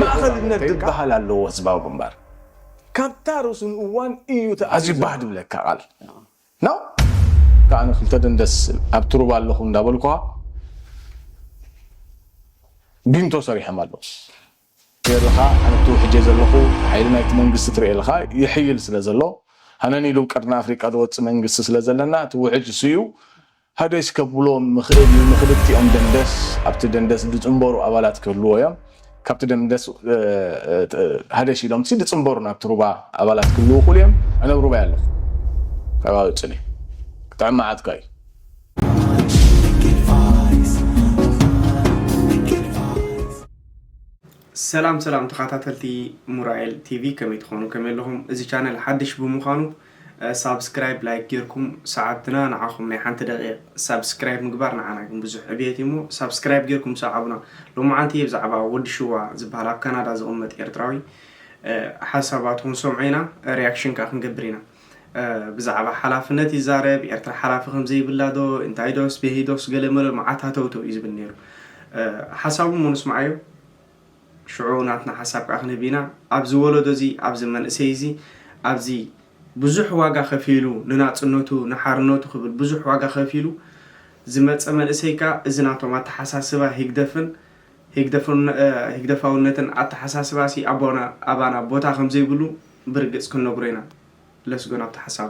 ማእኸልነት ዝበሃል ኣለዎ ህዝባዊ ግንባር ካብታ ርሱን እዋን እዩ ተኣዝዩ ባህ ድብለካ ቃል ን ከኣ ክልተ ደንደስ ኣብ ትሩባ ኣለኹ እንዳበልኩኻ ቢንቶ ሰሪሖም ኣለዉ ገርኻ ኣነ ትውሕጀ ዘለኹ ሓይሊ ናይቲ መንግስቲ ትርእየልኻ ይሕይል ስለ ዘሎ ሃነን ኢሉ ቀርኒ ኣፍሪቃ ዝወጽእ መንግስቲ ስለ ዘለና እቲ ውሕጅ እሱ እዩ ሃገሽ ከብሎም ምኽእል እዩ ንኽልቲኦም ደንደስ ኣብቲ ደንደስ ድጽንበሩ ኣባላት ክህልዎ እዮም ካብቲ ደንደስ ሃደሽ ኢሎም ሲ ድጽንበሩ ናብቲ ሩባ ኣባላት ክህልዉ ይኽእሉ እዮም ኣነ ኣብ ሩባይ ኣለኹ ካብኣ ወጽኒ ክጥዕም መዓትካ እዩ። ሰላም ሰላም ተኻታተልቲ ሙራኤል ቲቪ ከመይ ትኾኑ ከመይ ኣለኹም እዚ ቻነል ሓድሽ ብምዃኑ ሳብስክራይብ ላይክ ጌርኩም ሰዓብትና ንዓኹም ናይ ሓንቲ ደቂቅ ሳብስክራይብ ምግባር ንዓና ግን ብዙሕ ዕብየት እዩ እሞ ሳብስክራይብ ጌርኩም ሰዓቡና ሎምዓንቲ እየ ብዛዕባ ወዲ ሽዋ ዝበሃል ኣብ ካናዳ ዝቅመጥ ኤርትራዊ ሓሳባቱ ክንሰምዖ ኢና ሪያክሽን ከኣ ክንገብር ኢና ብዛዕባ ሓላፍነት ይዛረብ ኤርትራ ሓላፊ ከም ዘይብላ ዶ እንታይ ዶስ ቤሂ ዶስ ገለ መለ መዓት ሃተውተው እዩ ዝብል ነይሩ ሓሳቡ እሞ ንስምዓዮ ሽዑ ናትና ሓሳብ ከኣ ክንህብ ኢና ኣብዚ ወለዶ እዚ ኣብዚ መንእሰይ እዚ ኣብዚ ብዙሕ ዋጋ ከፊሉ ንናጽነቱ ንሓርነቱ ክብል ብዙሕ ዋጋ ከፊሉ ዝመጸ መንእሰይ ከኣ እዚ ናቶም ኣተሓሳስባ ሂግደፍን ሂግደፋውነትን ኣተሓሳስባ ሲ ኣቦና ኣባና ቦታ ከም ዘይብሉ ብርግጽ ክንነግሮ ኢና ለስጎ ናብቲ ሓሳቡ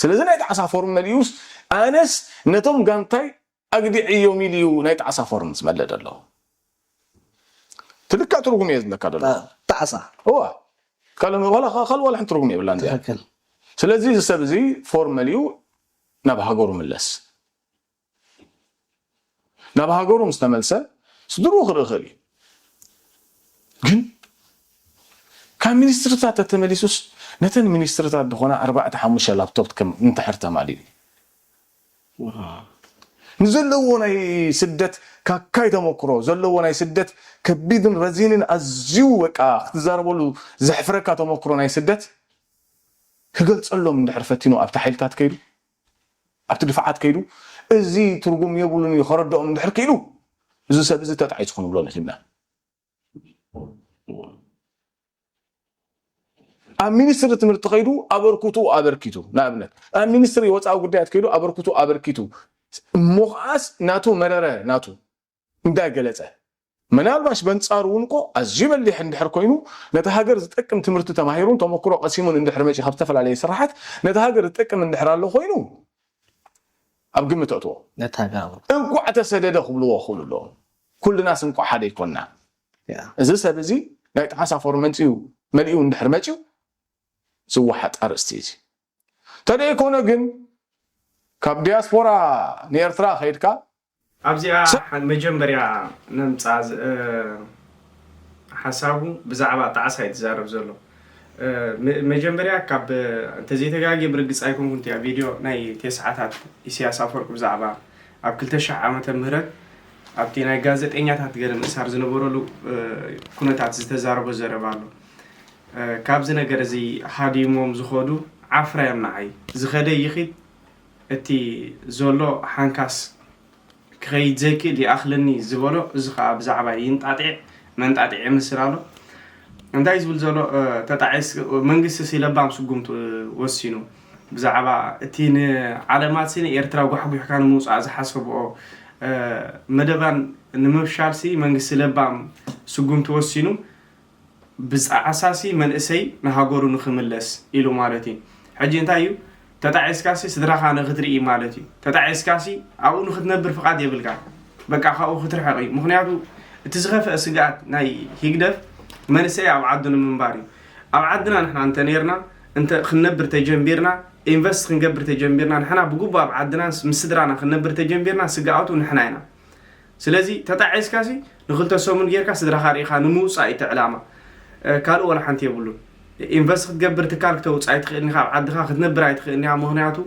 ስለዚ ናይ ጣዕሳ ፎርም መሊኡስ ኣነስ ነቶም ጋንታይ ኣግዲዐዮም ኢሉ እዩ ናይ ጣዕሳ ፎርም ዝመልእ ዘሎ እቲ ልክዕ ትርጉም እየ ዝብለካ ዘለኹ ጣዕሳ እወ ካልእ ዋላ ሓንቲ ትርጉም የብላን እዚኣ ስለዚ እዚ ሰብ እዚ ፎርም መሊኡ ናብ ሃገሩ ምለስ ናብ ሃገሩ ምስ ተመልሰ ስድርኡ ክርኢ ክእል እዩ ግን ካብ ሚኒስትርታት ተተመሊሱስ ነተን ሚኒስትርታት ዝኾና ኣርባዕተ ሓሙሽተ ላፕቶፕ ከም እንተሕር ተማሊኡ ንዘለዎ ናይ ስደት ካካይ ተመኩሮ ዘለዎ ናይ ስደት ከቢድን ረዚንን ኣዝዩ በቃ ክትዛረበሉ ዘሕፍረካ ተመኩሮ ናይ ስደት ክገልጸሎም እንድሕር ፈቲኑ ኣብቲ ሓይልታት ከይዱ ኣብቲ ድፋዓት ከይዱ እዚ ትርጉም የብሉን እዩ ከረድኦም እንድሕር ክኢሉ እዚ ሰብ እዚ ተጣዒሱ ክንብሎ ንክእልና። ኣብ ሚኒስትሪ ትምህርቲ ከይዱ ኣበርክትኡ ኣበርኪቱ ንኣብነት ኣብ ሚኒስትሪ ወፃኢ ጉዳያት ከይዱ ኣበርክትኡ ኣበርኪቱ እሞ ከዓስ ናቱ መረረ ናቱ እንዳገለፀ ምናልባሽ በንፃሩ እውን እኮ ኣዝዩ በሊሕ እንድሕር ኮይኑ ነቲ ሃገር ዝጠቅም ትምህርቲ ተማሂሩን ተመክሮ ቀሲሙን እንድሕር መፂኡ ካብ ዝተፈላለየ ስራሓት ነቲ ሃገር ዝጠቅም እንድሕር ኣሎ ኮይኑ ኣብ ግምት ኣእትዎ። እንቋዕ ተሰደደ ክብልዎ ክኽእሉ ኣለዎም። ኩልናስ እንቋዕ ሓደ ኣይኮንናን። እዚ ሰብ እዚ ናይ ጠሓሳ ፎርመንጢኡ መሊኡ እንድሕር መጺኡ ዝወሓጥ ኣርእስቲ እዩ እዚ። ተደይኮነ ግን ካብ ዲያስፖራ ንኤርትራ ከይድካ ኣብዚኣ ሰ መጀመርያ ነምጻ ዝ ሓሳቡ ብዛዕባ ጣዕሳ እዩ ዝዛረብ ዘሎ ም መጀመርያ ካብ እንተ ዘይተጋግየ ብርግጽ ኣይኮንኩን እቲኣ ቪድዮ ናይ ቴስዓታት ኢሰያስ ኣፈወርቅ ብዛዕባ ኣብ ክልተ ሽሕ ዓመተ ምህረት ኣብቲ ናይ ጋዘጠኛታት ገለ ምእሳር ዝነበረሉ ኩነታት ዝተዛረቦ ዘረባ ኣሎ ካብዚ ነገር እዚ ሃዲሞም ዝኸዱ ዓፍራ እዮም ንዓይ ዝኸደ ይኺድ እቲ ዘሎ ሓንካስ ክኸይድ ዘይክእል ይኣኽለኒ ዝበሎ እዚ ከኣ ብዛዕባ ይንጣጢዕ መንጣጢዕ የምስል ኣሎ እንታይ ዝብል ዘሎ ተጣዒስ መንግስቲሲ ለባም ስጉምቲ ወሲኑ ብዛዕባ እቲ ንዓለማትሲ ንኤርትራ ጓሕጒሕካ ንምውጻእ ዝሓሰብኦ መደባን ንምፍሻልሲ መንግስቲ ለባም ስጉምቲ ወሲኑ ብጻዓሳሲ መንእሰይ ንሃገሩ ንክምለስ ኢሉ ማለት እዩ ሕጂ እንታይ እዩ ተጣዒስካሲ ስድራካ ንክትርኢ ማለት እዩ ተጣዒስካሲ ኣብኡ ንክትነብር ፍቃድ የብልካ በቃ ካብኡ ክትርሕቅ እዩ ምክንያቱ እቲ ዝከፈእ ስግኣት ናይ ሂግደፍ መንእሰይ ኣብ ዓዱ ንምንባር እዩ ኣብ ዓድና ንሕና እንተ ነርና እንተ ክንነብር ተጀምቢርና ኢንቨስት ክንገብር ተጀምቢርና ንሕና ብግቡእ ኣብ ዓድና ምስ ስድራና ክንነብር ተጀምቢርና ስግኣቱ ንሕና ኢና ስለዚ ተጣዒስካ ሲ ንክልተ ሰሙን ጌርካ ስድራካ ርኢካ ንምውጻእ እዩ ዕላማ ካልእ ወላ ሓንቲ የብሉን ኢንቨስት ክትገብር ትካል ክተውጽእ ኣይትኽእልን ኢኻ ኣብ ዓድኻ ክትነብር ኣይትኽእልን ኢኻ ምክንያቱ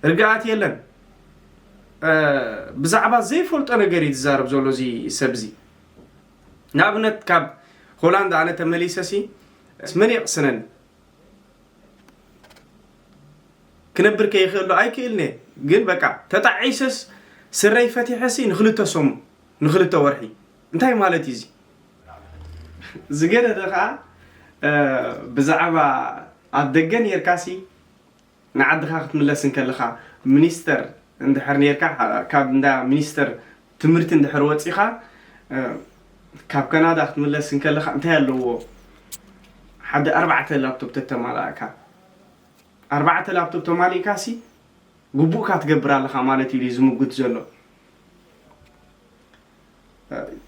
ርግኣት የለን ብዛዕባ ዘይፈልጦ ነገር እዩ ዝዛረብ ዘሎ እዚ ሰብ እዚ ንኣብነት ካብ ሆላንድ ኣነ ተመሊሰ ሲ መን የቕስነኒ ክነብር ከይ ይኽእሎ ኣይክእልንየ ግን በቃ ተጣዒሰስ ስረይ ፈቲሐሲ ንክልተ ሰሙን ንክልተ ወርሒ እንታይ ማለት እዩ እዚ ዝገደደ ከዓ ብዛዕባ ኣብ ደገ ነርካሲ ንዓድኻ ክትምለስ እንከለኻ ሚኒስተር እንድሕር ነርካ ካብ እንዳ ሚኒስተር ትምህርቲ እንድሕር ወጺኻ ካብ ካናዳ ክትምለስ እንከለኻ እንታይ ኣለዎ ሓደ ኣርባዕተ ላፕቶፕ ተተማላእካ ኣርባዕተ ላፕቶፕ ተማሊእካ ሲ ግቡእካ ትገብር ኣለኻ ማለት እዩ ዝምጉት ዘሎ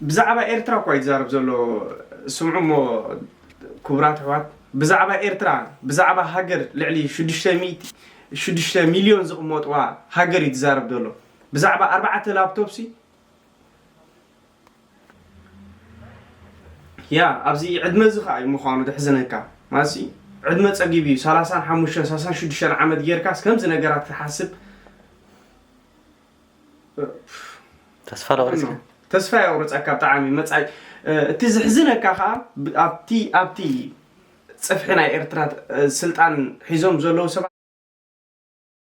ብዛዕባ ኤርትራ እኳ ይዛረብ ዘሎ ስምዑ እሞ ክቡራት ኣሕዋት ብዛዕባ ኤርትራ ብዛዕባ ሃገር ልዕሊ ሽዱሽተ ሚልዮን ዝቕመጥዋ ሃገር እዩ ትዛረብ ዘሎ ብዛዕባ ኣርባዕተ ላፕቶፕ ሲ ያ ኣብዚ ዕድመ እዚ ከዓ እዩ ምዃኑ ዘሕዝነካ ማለት ዕድመ ፀጊብ እዩ ሰላሳን ሓሙሽተን ሰላሳን ሽዱሽተን ዓመት ጌርካስ ከምዚ ነገራት ክሓስብ ተስፋ ለቁርፅካ ተስፋ የቁርፀካ ብጣዕሚ መፃኢ እቲ ዝሕዝነካ ከዓ ኣብቲ ኣብቲ ፅፍሒ ናይ ኤርትራ ስልጣን ሒዞም ዘለዉ ሰባት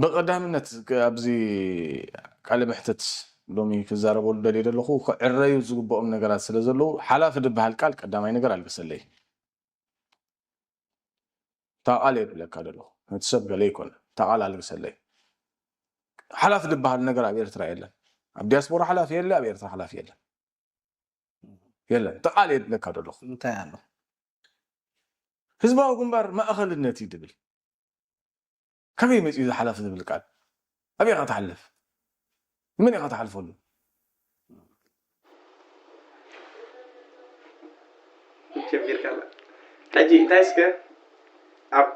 ብቐዳምነት ኣብዚ ቃለ መሕትት ሎሚ ክዛረበሉ ደልየ ዘለኹ ክዕረዩ ዝግብኦም ነገራት ስለ ዘለዉ ሓላፊ ዝበሃል ቃል ቀዳማይ ነገር ኣልግሰለይ እታ ቃል እየ ክብለካ ዘለኹ ነቲ ሰብ ገለ ይኮነ እታ ቃል ኣልግሰለይ ሓላፊ ዝበሃል ነገር ኣብ ኤርትራ የለን ኣብ ዲያስፖራ ሓላፊ የለ ኣብ ኤርትራ ሓላፊ የለን የለን እታ ቃል እየ ክብለካ ዘለኹ እንታይ ኣሎ ህዝባዊ ግንባር ማእኸልነት እዩ ድብል ካበይ መጺኡ እዚ ሓላፊ ዝብል ቃል ኣበይ ኢኻ ትሓልፍ ንመን ኢኻ ትሓልፈሉ። ጀሚርካ ኣላ ሕጂ እንታይ እስከ ኣብ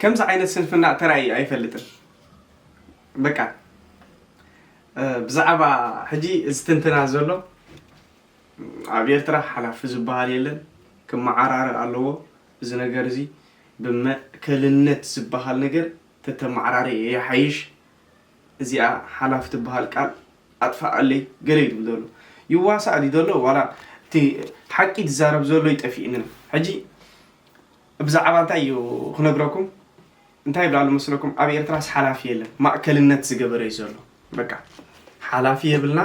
ከምዚ ዓይነት ስንፍና ተራእዩ ኣይፈልጥን በቃ ብዛዕባ ሕጂ እዚ ትንትና ዘሎ ኣብ ኤርትራ ሓላፊ ዝበሃል የለን ክመዓራረ ኣለዎ እዚ ነገር እዚ ብመእከልነት ዝበሃል ነገር ተተመዓራሪ የሓይሽ እዚኣ ሓላፊ ትበሃል ቃል ኣጥፋኣለይ ገለ ይብል ዘሎ ይዋሳእ ዲ ዘሎ ዋላ እቲ ሓቂ ዝዛረብ ዘሎ ይጠፊእንን ሕጂ ብዛዓባ እንታይ እዩ ክነግረኩም እንታይ ይብል ኣሎ መስለኩም ኣብ ኤርትራስ ሓላፊ የለን ማእከልነት ዝገበረ እዩ ዘሎ በቃ ሓላፊ የብልና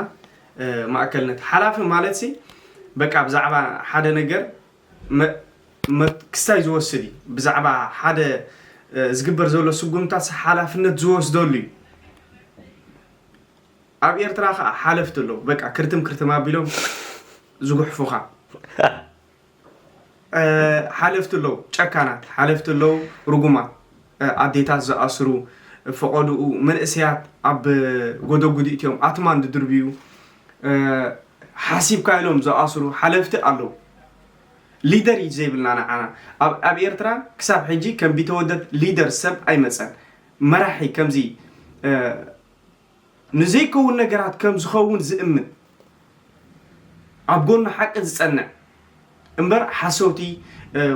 ማእከልነት ሓላፊ ማለት ሲ በቃ ብዛዕባ ሓደ ነገር ክስታይ ዝወስድ እዩ ብዛዕባ ሓደ ዝግበር ዘሎ ስጉምታት ሓላፍነት ዝወስደሉ እዩ ኣብ ኤርትራ ከዓ ሓለፍቲ ኣለዉ በቃ ክርትም ክርትም ኣቢሎም ዝጉሕፉኻ ሓለፍቲ ኣለው ጨካናት ሓለፍቲ ኣለው ርጉማት ኣዴታት ዝኣስሩ ፈቐድኡ መንእሰያት ኣብ ጎደጉዲ እትዮም ኣትማን ዝድርብዩ ሓሲብካ ኢሎም ዝኣስሩ ሓለፍቲ ኣለው ሊደር እዩ ዘይብልና ንዓና ኣብ ኤርትራ ክሳብ ሕጂ ከም ቢተወደድ ሊደር ሰብ ኣይመፀን መራሒ ከምዚ ንዘይከውን ነገራት ከም ዝኸውን ዝእምን ኣብ ጎኒ ሓቂ ዝጸንዕ እምበር ሓሰውቲ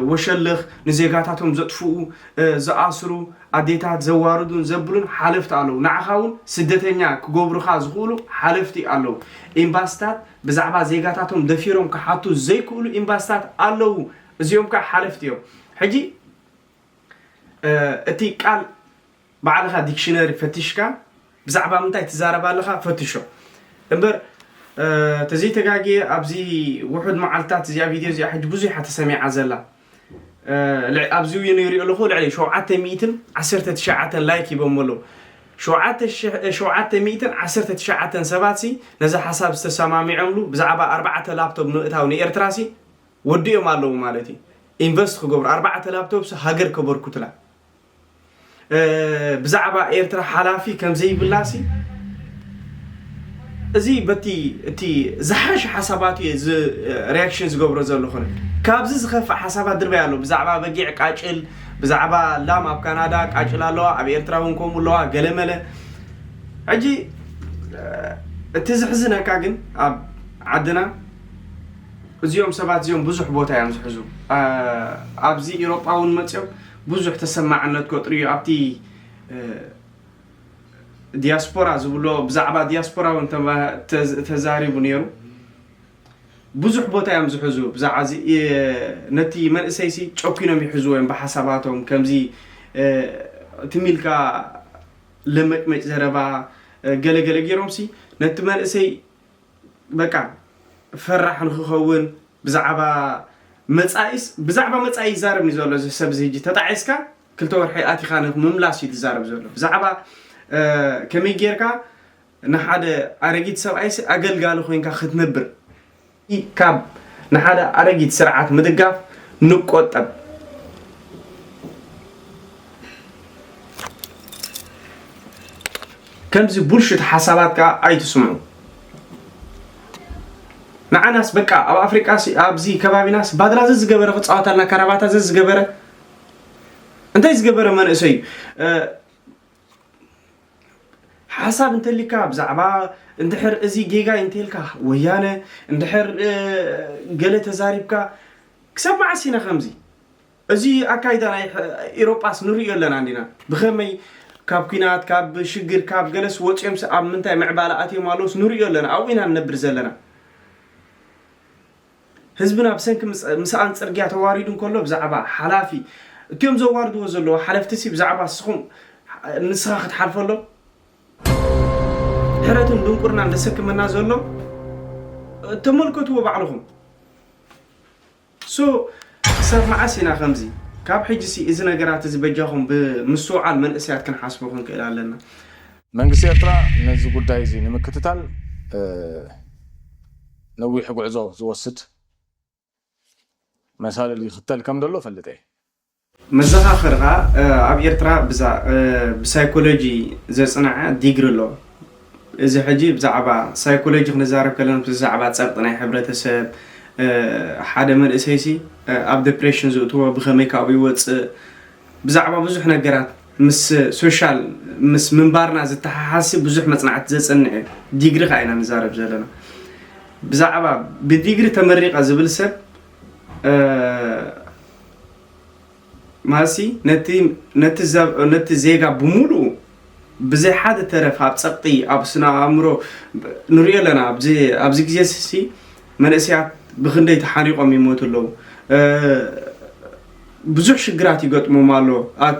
ወሸልኽ ንዜጋታቶም ዘጥፍኡ ዝኣስሩ ኣዴታት ዘዋርዱን ዘብሉን ሓለፍቲ ኣለዉ ንዓኻ እውን ስደተኛ ክገብሩኻ ዝኽእሉ ሓለፍቲ ኣለዉ ኤምባስታት ብዛዕባ ዜጋታቶም ደፊሮም ክሓቱ ዘይክእሉ ኤምባስታት ኣለዉ እዚኦም ከዓ ሓለፍቲ እዮም ሕጂ እቲ ቃል ባዕልኻ ዲክሽነሪ ፈቲሽካ ብዛዕባ ምንታይ ትዛረብ ኣለኻ ፈትሾ እምበር ተዘይተጋግየ ኣብዚ ውሑድ መዓልትታት እዚኣ ቪድዮ እዚኣ ሕጂ ብዙሕ እያ ተሰሚዓ ዘላ ኣብዚ ውይኑ ይሪኦ ኣለኹ ልዕሊ ሸውዓተ ሚእትን ዓሰርተ ትሽዓተን ላይክ ሂቦሞ ኣለዉ ሸውዓተ ሚእትን ዓሰርተ ትሽዓተን ሰባትሲ ነዚ ሓሳብ ዝተሰማሚዖምሉ ብዛዕባ ኣርባዕተ ላፕቶፕ ምእታው ንኤርትራሲ ወዲኦም ኣለዉ ማለት እዩ ኢንቨስት ክገብሩ ኣርባዕተ ላፕቶፕሲ ሃገር ከበርኩትላ ብዛዕባ ኤርትራ ሓላፊ ከም ዘይብላሲ እዚ በቲ እቲ ዝሓሸ ሓሳባት እየ ሪያክሽን ዝገብሮ ዘለኹ ካብዚ ዝኸፍእ ሓሳባት ድርበይ ኣሎ ብዛዕባ በጊዕ ቃጭል ብዛዕባ ላም ኣብ ካናዳ ቃጭል ኣለዋ ኣብ ኤርትራ እውን ከምኡ ኣለዋ ገለመለ ሕጂ እቲ ዝሕዝነካ ግን ኣብ ዓድና እዚኦም ሰባት እዚኦም ብዙሕ ቦታ እዮም ዝሕዙ ኣብዚ ኢሮጳ እውን መፅኦም ብዙሕ ተሰማዕነት ከጥሪ እዩ ኣብቲ ዲያስፖራ ዝብሎ ብዛዕባ ዲያስፖራ እውን ተዛሪቡ ነይሩ ብዙሕ ቦታ እዮም ዝሕዙ ብዛዕባ ነቲ መንእሰይ ሲ ጨኪኖም ይሕዝዎ እዮም ብሓሳባቶም ከምዚ ትሚልካ ለመጭመጭ ዘረባ ገለገለ ገይሮም ሲ ነቲ መንእሰይ በቃ ፈራሕ ንክኸውን ብዛዕባ መጻኢስ ብዛዕባ መጻኢ ይዛረብ እዩ ዘሎ እዚ ሰብ እዚ ሕጂ ተጣዒስካ ክልተ ወርሒ ኣቲኻ ንምምላስ እዩ ዝዛረብ ዘሎ ብዛዕባ ከመይ ጌርካ ንሓደ ኣረጊት ሰብኣይሲ ኣገልጋሊ ኮንካ ክትነብር ካብ ንሓደ ኣረጊት ስርዓት ምድጋፍ ንቆጠብ ከምዚ ቡልሽት ሓሳባት ከዓ ኣይትስምዑ ንዓናስ በቃ ኣብ ኣፍሪቃ ኣብዚ ከባቢናስ ባድራ ዘዝገበረ ክፃወታልና ካራባታ ዘዝገበረ እንታይ ዝገበረ መንእሰይ እዩ ሓሳብ እንተሊካ ብዛዕባ እንድሕር እዚ ጌጋ እንተልካ ወያነ እንድሕር ገለ ተዛሪብካ ክሳብ መዓስ ኢና ከምዚ እዚ ኣካይዳ ናይ ኢሮጳስ ንርእዮ ኣለና እንዲና። ብኸመይ ካብ ኩናት ካብ ሽግር ካብ ገለስ ወጽዮምስ ኣብ ምንታይ ምዕባለ ኣትዮም ኣለዉስ ንርእዮ ኣለና። ኣብኡ ኢና ንነብር ዘለና። ህዝብና ብሰንኪ ምስኣን ጽርግያ ተዋሪዱ እንከሎ ብዛዕባ ሓላፊ እትዮም ዘዋርድዎ ዘለዉ ሓለፍቲሲ ብዛዕባ ንስኹም ንስኻ ክትሓልፈሎም ሕረትን ድንቁርናን ዘሰክመና ዘሎ ተመልከትዎ ባዕልኹም። So ክሳብ መዓስ ኢና ከምዚ? ካብ ሕጂሲ እዚ ነገራት እዚ በጃኹም ብምስትውዓል መንእሰያት ክንሓስቦ ክንክእል ኣለና። መንግስቲ ኤርትራ ነዚ ጉዳይ እዚ ንምክትታል ነዊሕ ጉዕዞ ዝወስድ መሳልል ይኽተል ከም ዘሎ እፈልጥ እየ። መዘኻኸሪ ከኣ ኣብ ኤርትራ ብዛ ብሳይኮሎጂ ዘጽነዐ ዲግሪ ኣሎ። እዚ ሕጂ ብዛዕባ ሳይኮሎጂ ክንዛረብ ከለና ምስ ዛዕባ ጸቕጢ ናይ ሕብረተሰብ ሓደ መንእሰይሲ ኣብ ደፕሬሽን ዝእትዎ ብኸመይ ካብኡ ይወጽእ ብዛዕባ ብዙሕ ነገራት ምስ ሶሻል ምስ ምንባርና ዝተሓሓዝሲ ብዙሕ መጽናዕቲ ዘጽንዕ እዩ። ዲግሪ ከኣ ኢና ንዛረብ ዘለና። ብዛዕባ ብዲግሪ ተመሪቐ ዝብል ሰብ ማሲ ነቲ ዜጋ ብምሉኡ ብዘይ ሓደ ተረፍ ኣብ ፀቕጢ ኣብ ስነ ኣእምሮ ንሪኦ ኣለና ኣብዚ ግዜ ሲ መንእሰያት ብክንደይ ተሓኒቆም ይሞቱ ኣለዉ ብዙሕ ሽግራት ይገጥሞም ኣሎ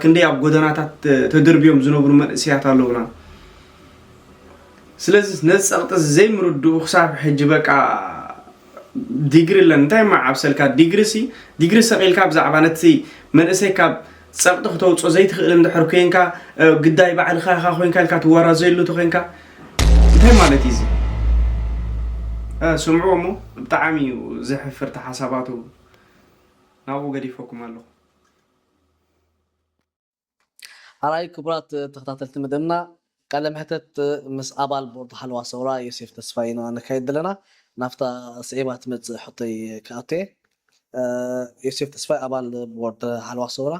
ክንደይ ኣብ ጎደናታት ተደርብዮም ዝነብሩ መንእሰያት ኣለውና ስለዚ ነዚ ፀቕጢ እዚ ዘይምርድኡ ክሳብ ሕጂ በቃ ዲግሪ ለን እንታይ መዓብሰልካ ዲግሪ ሲ ዲግሪ ሰቂልካ ብዛዕባ ነቲ መንእሰይ ካብ ጸቕጢ ክተውጾ ዘይትኽእል እንድሕር ኮንካ ግዳይ ባዕልኻ ኢኻ ኮንካ ኢልካ ትወራዘየሉ ተኮንካ እንታይ ማለት እዩ እዚ ስምዑ እሞ ብጣዕሚ እዩ ዘሕፍርቲ ሓሳባቱ ናብኡ ገዲፈኩም ኣለኹ ኣርኣይ ክቡራት ተኸታተልቲ መደብና ቃለ መሕተት ምስ ኣባል ቦርድ ሓለዋ ሰውራ ዮሴፍ ተስፋይ ኢና ነካይድ ዘለና ናብታ ስዒባ ትመጽእ ሕቶይ ክኣቱ እየ ዮሴፍ ተስፋይ ኣባል ቦርድ ሓለዋ ሰውራ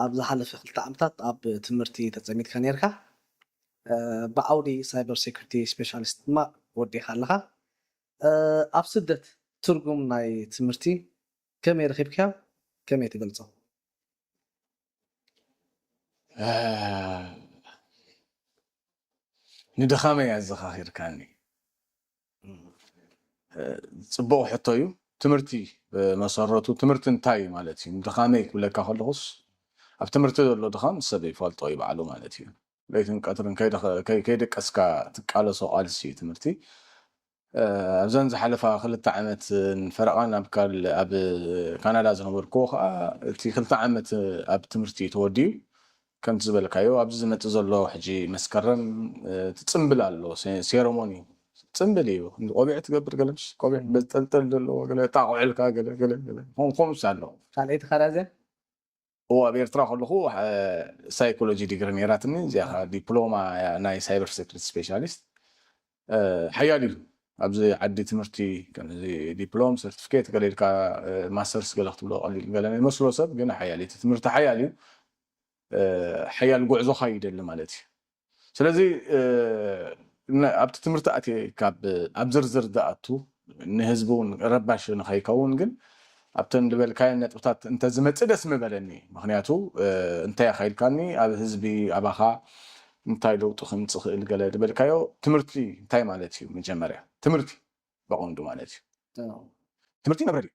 ኣብ ዝሓለፈ ክልተ ዓመታት ኣብ ትምህርቲ ተጸሚድካ ነርካ ብዓውዲ ሳይበር ሴኩሪቲ ስፔሻሊስት ድማ ወዲእካ ኣለኻ ኣብ ስደት ትርጉም ናይ ትምህርቲ ከመይ ረኺብካዮ ከመይ ትገልጾ ንድኻመይ ኣዘኻኺርካኒ ፅቡቕ ሕቶ እዩ ትምህርቲ መሰረቱ ትምህርቲ እንታይ እዩ ማለት እዩ ንድኻመይ ክብለካ ከለኹስ ኣብ ትምህርቲ ዘሎ ድኻም ሰብ ይፈልጦ እዩ ባዕሉ ማለት እዩ ለይትን ቀትርን ከይደቀስካ ትቃለሶ ቃልሲ እዩ ትምህርቲ ኣብዘን ዝሓለፋ ክልተ ዓመትን ፈረቓን ኣብ ካናዳ ዝነበርክዎ ከኣ እቲ ክልተ ዓመት ኣብ ትምህርቲ ተወዲኡ ከምቲ ዝበልካዮ ኣብዚ ዝመጽእ ዘሎ ሕጂ መስከረም እቲ ጽምብል ኣሎ ሴረሞኒ ጽምብል እዩ ቆቢዕ ትገብር ገለ ምሽ ቆቢዕ በዝጠልጠል ዘለዎ ገለ ጣቑዕልካ ገለ ገለ ገለ ከምኡስ ኣሎ ካልኣይቲ ካራዘ እወ ኣብ ኤርትራ ከለኹ ሳይኮሎጂ ዲግሪ ነይራትኒ እዚኣ ከኣ ዲፕሎማ እያ ናይ ሳይበር ሴኩሪቲ ስፔሻሊስት ሓያል እዩ ኣብዚ ዓዲ ትምህርቲ ከምዚ ዲፕሎም ሰርቲፊኬት ገለ ኢልካ ማስተርስ ገለ ክትብሎ ቀሊል ገለ ይመስሎ ሰብ ግን ሓያል እቲ ትምህርቲ ሓያል እዩ ሓያል ጉዕዞኻ ይደሊ ማለት እዩ ስለዚ ኣብቲ ትምህርቲ ኣትየ ካብ ኣብ ዝርዝር ዝኣቱ ንህዝቢ እውን ረባሺ ንኸይከውን ግን ኣብተን ዝበልካየን ነጥብታት እንተዝመፅእ ደስ ምበለኒ። ምኽንያቱ እንታይ ኢኻ ኢልካኒ ኣብ ህዝቢ ኣባኻ እንታይ ለውጢ ክምፅእ ይኽእል ገለ ዝበልካዮ ትምህርቲ እንታይ ማለት እዩ መጀመርያ ትምህርቲ በቐንዱ ማለት እዩ ትምህርቲ መብረድ እዩ።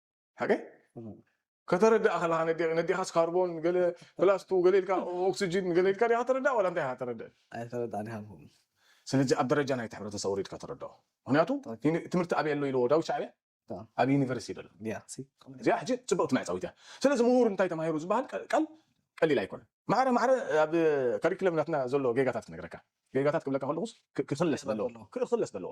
ኦኬ ከተረድኣ ከለካ ነዴ- ነዴኻስ ካርቦን ገለ ፕላስቱ ገለ ኢልካ ኦክስጅን ገለ ኢልካ ዲኻ ተረድኣ ዋላ እንታይ ኢኻ ተረድእ ኣይተረዳእን ኢኻ ትብሉ። ስለዚ ኣብ ደረጃ ናይቲ ሕብረተሰብ ወሪድካ ተረድኦ ምክንያቱ ዩኒ- ትምህርቲ ኣበይ ኣሎ ኢልዎ ዳዊት ሻዕብያ አዎ። ኣብ ዩኒቨርሲቲ ይበሎ ያ፣ ሲ፣ እዚኣ ሕጂ ፅብቕቲ መዕፀዊት እያ ስለዚ ምሁር እንታይ ተማሂሩ ዝበሃል ቀ- ቃል ቀሊል ኣይኮነን ማዕረ ማዕረ ኣብ ካሪክለም ናትና ዘሎ ጌጋታት ክነግረካ ጌጋታት ክብለካ ከለኹስ ክ- ክኽለስ ዘለዎ ክኽለስ ዘለዎ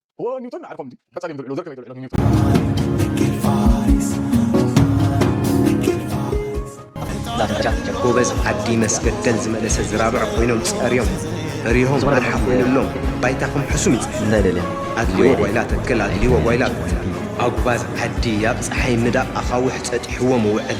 ኒውቶን ንዓርፎም ድዩ ቀጻሊ ዝውዕሉ ዘርከበ ይተውዕሎ ኒውቶን ጃክ ጎበዝ ዓዲ መስገደል ዝመለሰ ዝራብዕ ኮይኖም ጸርዮም ርሆም ኣርሓ ኮይኑሎም ባይታኹም ሕሱም ይጽ እንታይ ደልያ ኣድልዎ ጓይላ ተክል ኣድልዎ ጓይላ ኣጉባዝ ዓዲ ኣብ ፀሓይ ምዳቕ ኣኻውሕ ጸጢሕዎም ውዕል